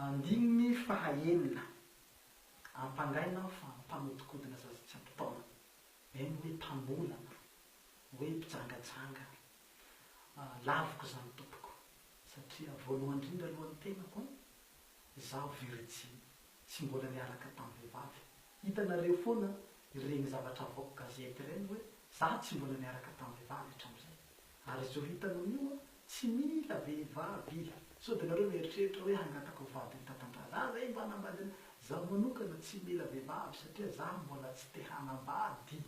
Andininy faha enina, Ampangaina aho fa mpanodikodina zaza tsy ampy taona, eny hoe mpamolana, hoe mpijangajangana. Laviko izany tompoko, satria voalohany indrindra aloha ny tenako, izaho virijiny, tsy mbola niaraka tamin'ny vehivavy. Hitanareo foana ireny zavatra avoak'o gazety ireny hoe, izaho tsy mbola niaraka tamin'ny vehivavy hatramin'izay. Ary izao hitanao io Tsy mila vehivavy ila. Sao dia nareo mieritreritra hoe hangatako vady ho tatantara. Za ve mba hanambady anao? Zaho manokana tsy mila vehivavy satria za mbola tsy te hanambady.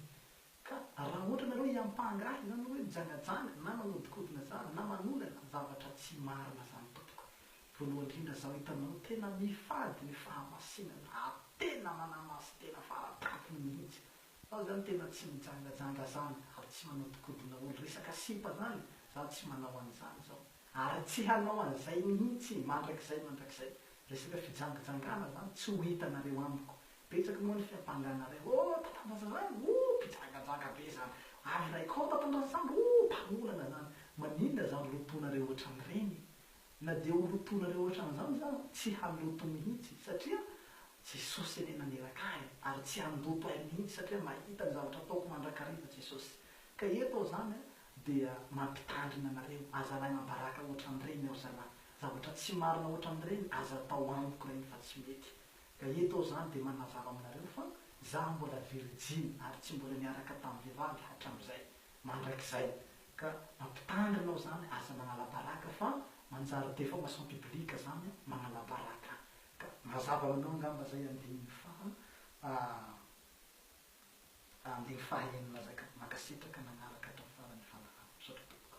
Ka raha ohatra nareo hiampanga ahy izany hoe mijangajanga na manodikodina za na manolana zavatra tsy marina zany tompoko. Voalohany indrindra zaho hitanao tena mifady ny fahamasinana ary tena manamasin-tena fara-tampony mihitsy. Zaho zany tena tsy mijangajanga zany ary tsy manodikodina olo resaka sipa zany zaho tsy manao an'izany zao ary tsy hanao an'izay mihitsy mandrakizay mandrakizay resaka fijangajangana zany tsy ho hitanareo amiko betsaka moa ny fiampanganareo oh tatandraza zany oh mpijangajanga be zany ary iray koa tatandraza zany oh mpanolana zany maninona zany roponareo otran'ireny Na dia ho lotonareo ohatran'izany za, tsy handoto mihitsy, satria Jesosy anie naneraka ahy, ary tsy handoto ahy mihitsy, satria mahita ny zavatra ataoko mandrakariva Jesosy. Ka eto aho izany dia mampitandrina anareo, aza lainam-baraka ohatran'ireny aho zalahy. Zavatra tsy marina ohatran'ireny aza atao amiko ireny fa tsy mety. Ka eto aho izany dia manazava aminareo fa za mbola virijiny ary tsy mbola niaraka tamin'ny vehivavy hatramin'izay. mandrakizay ka mampitandrina aho zany aza manala baraka fa manjary defamation publique zany manala baraka ka mazava ho anao angamba zay andininy faha andininy faha enina zay ka mankasitraka nanaraka hatramin'ny farany Fanahy misaotra tompoko.